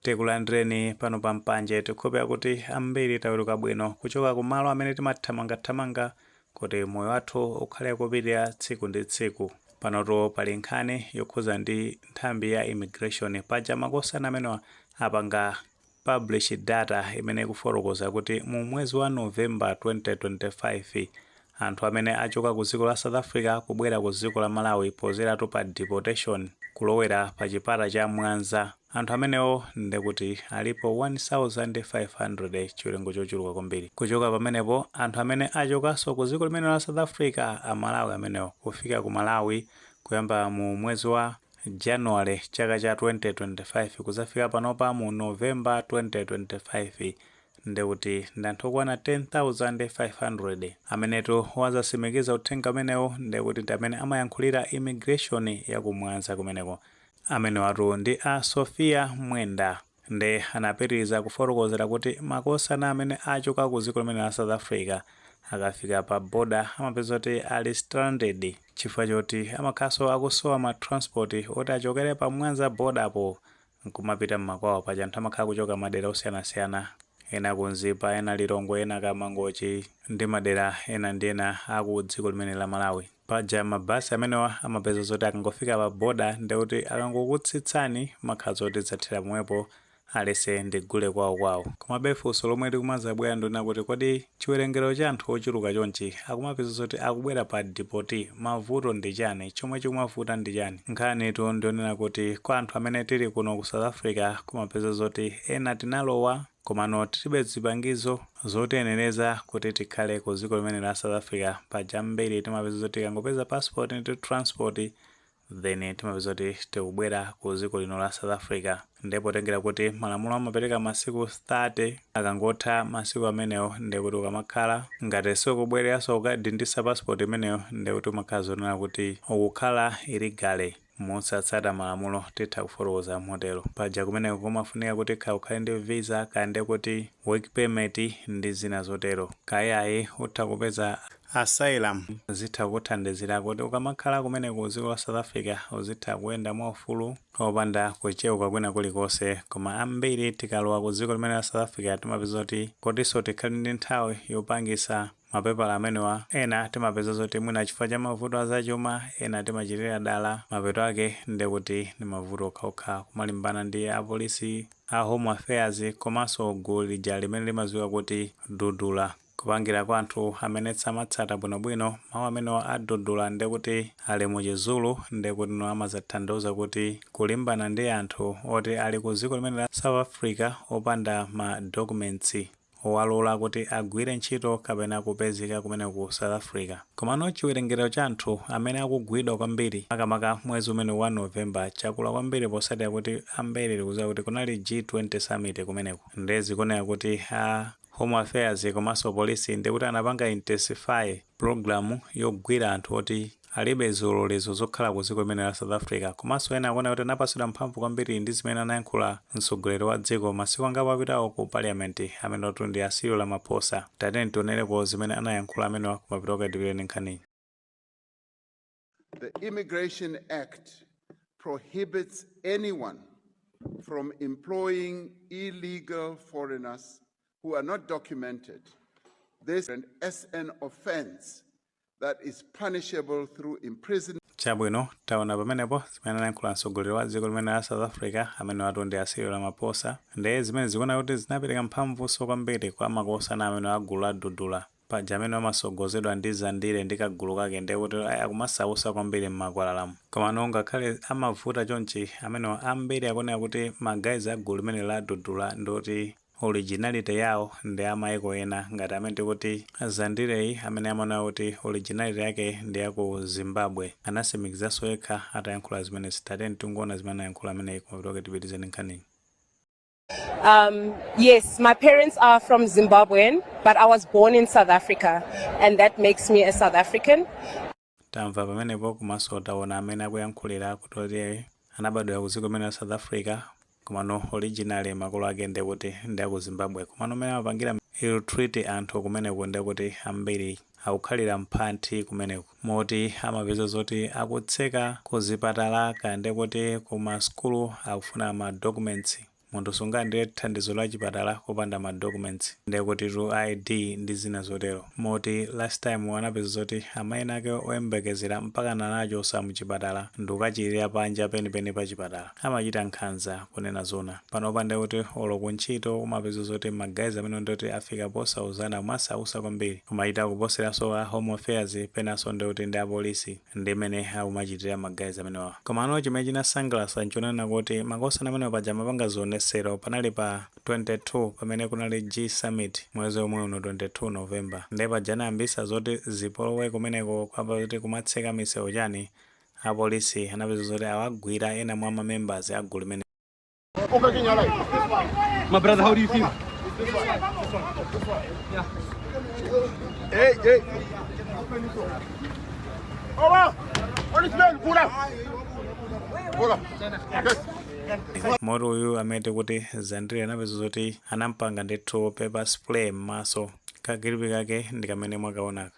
Tikulandireni pano pa Mpanje. Tikukhulupirira kuti ambiri taweruka bwino kuchoka ku malo amene timathamangathamanga kuti moyo wathu ukhale kupitirira tsiku ndi tsiku. Panotu pali nkhani yokhuza ndi nthambi ya immigration. Paja makosana amenewa apanga publish data imene ikufotokoza kuti mu mwezi wa November 2025, Anthu amene achoka ku dziko la South Africa kubwera ku dziko la Malawi podzeratu pa deportation kulowera pa chipata cha Mwanza, anthu amenewo ndekuti alipo 1500 chiwerengo chochuluka kwambiri. Kuchoka pamenepo anthu amene achokanso ku dziko limeneli la South Africa a Malawi amenewo kufika ku Malawi kuyamba mu mwezi wa January chaka cha 2025 kudzafika panopa mu November 2025, nde kuti ndi anthu okwana 10,500 amenetu watsimikiza uthenga umenewu nde kuti ndi amene amayankhulira immigration ya ku Mwanza kumeneko. Amenewatu ndi a Sophia Mwenda nde anapitiliza kufotokozera kuti makosana amene achoka ku dziko limeneli la South Africa akafika pa border amapeza kuti ali stranded chifukwa choti amakhalanso akusowa ma transport oti achokere pa Mwanza border po nkumapita mmakwawo paja anthu amakhala kuchoka madera osiyanasiyana ena ku mzimba ena lilongwe ena ku mangochi ndi madera ena ndi ena aku dziko limeneli la malawi paja ma bus amenewa amapeza zoti akangofika pa border ndekuti akangokutsitsani amakhala zoti zathera pomwepo aliyense ndi gule kwawo kwawo komabe funso lomwe likumazabwera ndi lonena kuti kodi Chiwerengero cha anthu ochuluka chonchi akumapeza zoti akubwera pa deport mavuto ndi chani chomwe chikumavuta ndi chani nkhanitu ndiyonena kuti kwa anthu amene tili kuno ku south africa kumapeza zoti ena tinalowa komano tilibe zipangizo zotiyenereza kuti tikhale ku dziko limeneli la south africa paja ambiri timapeza zoti tikangopeza passport ndi transport then timapeza kuti tikubwera ku dziko lino la South Africa nde potengera kuti malamulo amapereka masiku 30 akangotha masiku amenewo nde kuti ukamakhala ngati sukubwereranso kukadindisa passport imeneyo nde kuti umakhala zonena kuti ukukhala illegally mosatsata malamulo titha kufotokoza motero paja kumeneko kumafunika kuti kaya ukhale ndi visa kaya nde kuti work permit ndi zina zotero kayayi utha kupeza Asylum zitha kukuthandizira kuti ukamakhala kumeneko ku dziko la South Africa uzitha kuyenda mwa ufulu opanda kucheuka kwina kulikonse. Koma ambiri tikalowa ku dziko limeneli la South Africa timapeza zoti kutinso tikhale ndi nthawi yopangitsa mapepala amenewa ena timapeza zoti mwina chifukwa cha mavuto a zachuma ena timachitira dala mapeto ake nde kuti ndi mavuto okhaokha kumalimbana ndi apolisi a Home Affairs komanso gulu lija limene limadziwika kuti Dudula. Kupangira kwa anthu amene simmatsata bwino bwino mau amenewa a Dudula ndekuti ali mu chi Zulu ndekutino amatanthauza kuti kulimbana ndi anthu oti ali ku ziko limene la South Africa opanda ma documentsi owalola kuti agwire ntchito kapena kupezeka kumeneko ku South Africa. Komano chiwerengero cha anthu amene akugwidwa kwambiri makamaka mwezi umenewu wa November chakula kwambiri potsatira kuti ambiri tikuziwa kuti kunali G20 summit kumeneko nde zikuoneka kuti a Home Affairs komanso Police ndiye kuti anapanga intensify program yogwira anthu oti alibe zilolezo zokhala ku dziko limeneli la South Africa komanso ena akuona kuti anapatsidwa mphamvu kwambiri ndi zimene anayankhula mtsogoleri wa dziko masiku angapo apitawo ku Parliament amenewotu ndi a Cyril Ramaphosa. Tatiyeni tionereko zimene anayankhula amenewa koma pitoke tipitirize nkhaniyi. The Immigration Act prohibits anyone from employing illegal foreigners who are not documented. This is an offense that is punishable through imprisonment. chabwino taona pamenepo zimene anayankhula mtsogoleri wa dziko limene la South Africa amenewatu ndi a Cyril Ramaphosa ndiye zimene zikuoneka kuti zinapereka mphamvunso kwambiri kwa makosana amenewa a gulu la Dudula Paja amenewa amasogozedwa ndi Zandile ndi kagulu kake ndiye kuti akumasausa kwambiri mmakwalalamu. Komano ngakhale amavuta chonchi amenewa ambiri akunena kuti ma guys a gulu limeneli la Dudula ndi oti originality yawo ndi a maiko ena ngati amene tikuti Zandileyi amene amanena kuti originality yake ndi ya ku Zimbabwe. Anasimikizanso yekha atayankhula zimenezi. Tatiyeni tingoona zimene anayankhula ameneyi koma pitoke tipitirize ndi nkhaniyi. Um, yes, my parents are from Zimbabwean, but I was born in South Africa, and that makes me a South African. tamva pamenepo komanso taona mmene akuyankhulira kuti oti anabadwira ku dziko limene la South Africa komano originally makolo ake ndi kuti ndi aku Zimbabwe komano mmene amapangira ill treat anthu kumeneko ndi kuti ambiri akukhalira mmantha kumeneko moti amapeza zoti akutseka ku zipatala kaya nde kuti ku ma sukulu akufuna ma documents munthu sungalandire thandizo la chipatala popanda ma documents nde kutitu ID ndi zina zotero moti last time anapeza zoti amayi ena ake oyembekezera mpakana anachosedwa mchipatala ndikukachirira panja penipeni pa chipatala. amachita nkhanza kunena zoona panopa ndekuti olo ku ntchito umapeza zoti ma guys amenewo ndekuti afika posauzana kumasausa kwambiri kumachita kuposeranso a home affairs penanso ndekuti ndi apolisi ndi mmene akumachitira ma guys amenewa komano chimene chinasangalasa nchonena kuti makosana amenewa paja amapanga zionesero panali pa 22 pamene kunali G summit mwezi omwe uno 22 November nde paja anayambisa zoti zipolowe kumeneko kuyamba zoti kumatseka misewu chani Apolisi anapeza zoti awagwira ena mwa mamembers a gulu limene. My brother, how do you feel? This one. This one. This one. Yeah. Hey, hey. Oh, wow. On his man, Buddha. Buddha. Yes. moti uyu amene akuti Zandile anapeza zoti anampanga ndithu pepper spray m'maso kakilipi kake ndi kamene mwakaonaka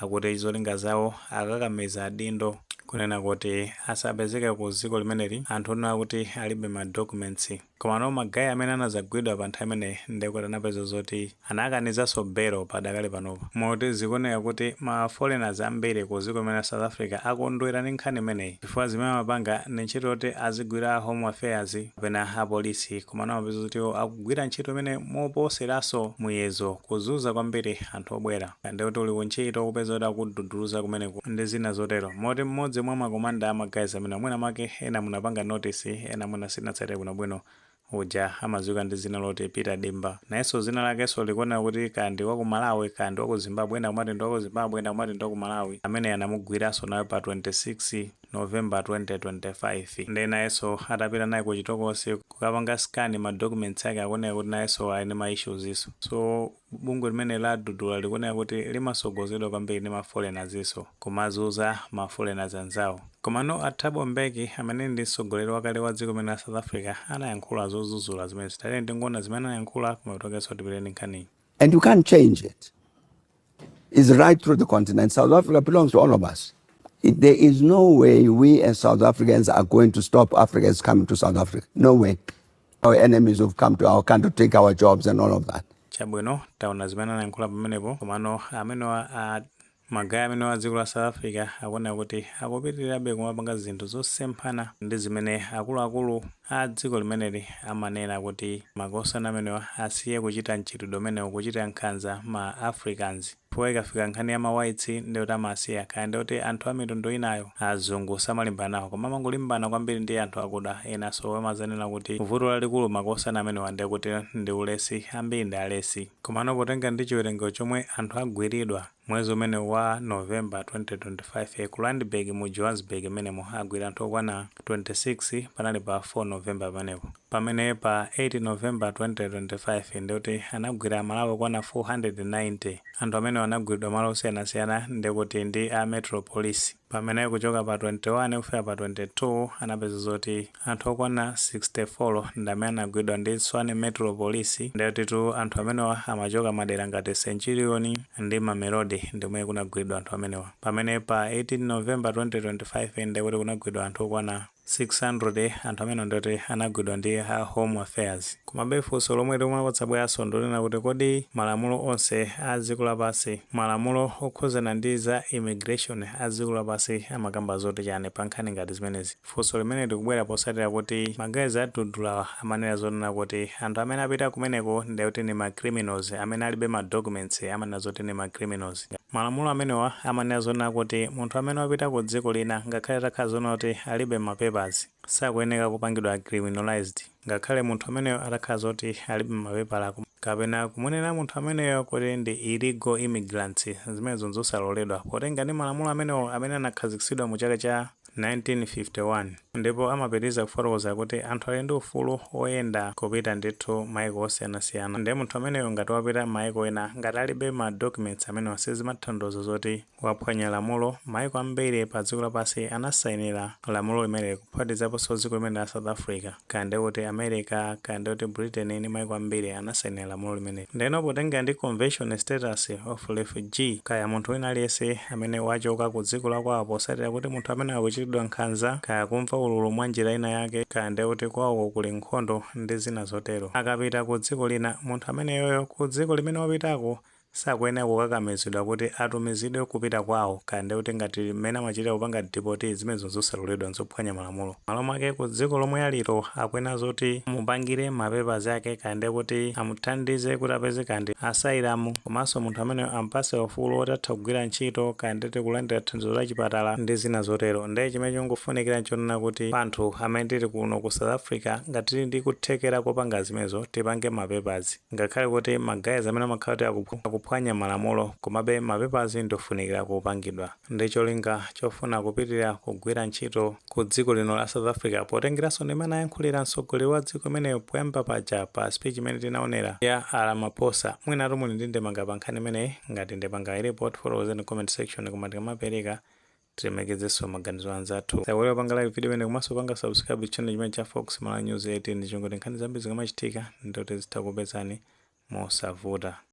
Akuti zolinga zawo akakamiza adindo kunena kuti asapezeke ku dziko limeneli anthu onena kuti alibe ma documents. Komano ma guy amene anazagwidwa pa nthawi imeneyi ndekuti anapeza zoti anakanizanso bail padakali panopa. Moti zikuoneka kuti ma foreigners ambiri ku dziko limene la South Africa akondwera ndi nkhani imeneyi chifukwa zimene amapanga ndi ntchito yoti azigwira a home affairs kapena apolisi komano amapeza zoti iwo akugwira ntchito imeneyi moposeranso muyezo kuzunza kwambiri anthu obwera. ndikuti uli kuntchito kupeza kuti akududuluza kumeneko ndi zina zotero. Moti mmodzi mwa ma commander a ma guys amenewa mwina mwake ena munapanga notice ena mwina simunatsatire bwinobwino uja amadziwika ndi dzina loti Peter Dimba. Nayenso dzina lakenso likuoneka kuti kaya ndi wa ku Malawi kaya ndi wa ku Zimbabwe ena akumati ndi wa ku Zimbabwe ena akumati ndi wa ku Malawi. Ameneyu anamugwiranso naye pa 26 November 2025 nde nayenso atapita naye kuchitokosi kukapanga scan ma documents ake akuoneka kuti nayenso ali ndi ma issues. So. Bungwe limeneli la Dudula likuoneka kuti limasogozedwa kwambiri ndi ma foreignersnso kumazunza ma foreigners anzawo. Komano a Thabo Mbeki amene ndi mtsogoleri wakale wa dziko limeneli la South Africa anayankhula zodzudzula zimenezi. Tatiyeni tingoona zimene anayankhula kuma talk and so tipitirize nkhaniyi. And you can't change it. It's right through the continent. South Africa belongs to all of us. It, there is no way we as South Africans are going to stop Africans coming to South Africa. No way. Our enemies who've come to our country to take our jobs and all of that. chabwino taona zimene anayankhula pamenepo komano amenewa magayi amenewa a dziko la south africa akuoneka kuti akupitirirabe kumapanga zinthu zosemphana ndi zimene akuluakulu a dziko limeneli amanena kuti makosana amenewa asiye kuchita mchitidwe umenewu kuchita nkhanza ma africans Chifukwa ikafika nkhani ya ma whites ndekuti amasiya kaya ndekuti anthu a mitundu inayo azungu samalimbana nawo koma amangolimbana kwambiri ndi anthu akuda ena so amazanena kuti vuto lalikulu makosana amenewa ndekuti ndi ulesi ambiri ndi alesi komano potenga ndi chiwerengero chomwe anthu agwiridwa mwezi umenewu wa November 2025 ku Randburg mu Johannesburg mmenemo agwira anthu okwana 26 panali pa 4 November pamenepo. pamene pa 8 November 2025 ndikuti anagwira amalawi okwana 490. Anthu amenewa anagwiridwa malo osiyanasiyana ndikuti ndi a Metro Police pamene kuchoka pa 21 kufika pa 22 anapeza zoti anthu okwana 64 ndamene anagwiridwa ndi Tshwane Metro Police ndekutitu anthu amenewa amachoka madera ngati Centurion ndi Mamelodi ndikumene kunagwiridwa anthu amenewa pamene pa 18 November 2025 ndekuti kunagwidwa anthu okwana 600 anthu amenewa ndioti anagwidwa ndi a home affairs komabe funso lomwe limene likubweranso ndonena kuti kodi malamulo onse a dziko lapansi malamulo okhuzana ndi za immigration a dziko lapansi amakamba zoti chani pa nkhani ngati zimenezi funso limene likubwera posatira kuti ma guys a dudulawa amanena zonena kuti anthu amene apita kumeneko ndikuti ndi ma criminals amene alibe ma documents amanena zoti ndi ma criminals Malamulo amenewa amanena zonena kuti munthu amene wapita ku dziko lina ngakhale atakhala zonena kuti alibe ma papers sakuyeneka kupangidwa criminalized ngakhale munthu ameneyo atakhala zoti alibe mapepala kapena kumunena munthu ameneyo kuti ndi illegal immigrants zimenezo nzosaloledwa potengera ndi malamulo amenewo amene anakhaziksidwa mu chaka cha 1951, ndipo amapitiriza kufotokoza kuti anthu ali ndi ufulu woyenda kupita ndithu maiko osiyanasiyana nde munthu ameneyo ngati wapita maiko ena ngati alibe ma documents amenewa sizimathandauza zoti waphwanya lamulo, maiko ambiri pa dziko lapansi anasainira lamulo limeneli kuphatikizaponso dziko limene la South Africa. kaya ndi kuti America, kaya ndi kuti Britain ndi maiko ambiri anasainira lamulo limeneli. Ndeno potengera ndi Convention Status of Refugee, kaya munthu wina aliyense amene wachoka ku dziko la kwawo posatira kuti munthu ameneyo akuchitidwa nkhanza, kaya kumva ululu mwa njira ina yake, kaya ndi kuti kwawoko kuli nkhondo ndi zina zotero. Akapita ku dziko lina, munthu ameneyoyo ku dziko limene wapitako Sakuyenera kukakamizidwa kuti atumizidwe kupita kwawo kaya ndekuti ngati mmene amachitira kupanga deport zimenezo nzosaloledwa nzophwanya malamulo. Malo mwake ku dziko lomwe aliro akuyenera zoti amupangire ma papers ake kaya ndekuti amuthandize kuti apeze kaya ndi asylum komanso munthu ameneyo ampatse ufulu woti atha kugwira ntchito kaya ndeti kulandira thandizo la chipatala ndi zina zotero. Nde chimene chikufunikira nchonena kuti anthu amene tili kuno ku South Africa ngati tili ndi kuthekera kopanga zimenezo tipange ma papers. Ngakhale kuti ma guys amene amakhala kuti akuphwanya malamulo komabe ma papers ndofunikila kupangidwa ndi cholinga chofuna kupitilila kugwila ntchito ku dziko lino la South Africa potengelaso ndimene anayankhulila mtsogoleri wa dziko imeneyo poyamba paja pa speech imene tinaonela ya a Ramaphosa. Mwinatu muli ndi ndemanga pa nkhani imeneyi? Ngati ndemanga ilipo tifotokozeni comment section koma tikamapeleka tilemekezenso maganizo a anzathu osaiwala kupanga like video imene komanso kupanga subscribe channel chimene cha fox malawi news 18 ncholinga choti nkhani zambiri zikamachitika ndithu zitakupezani mosavuta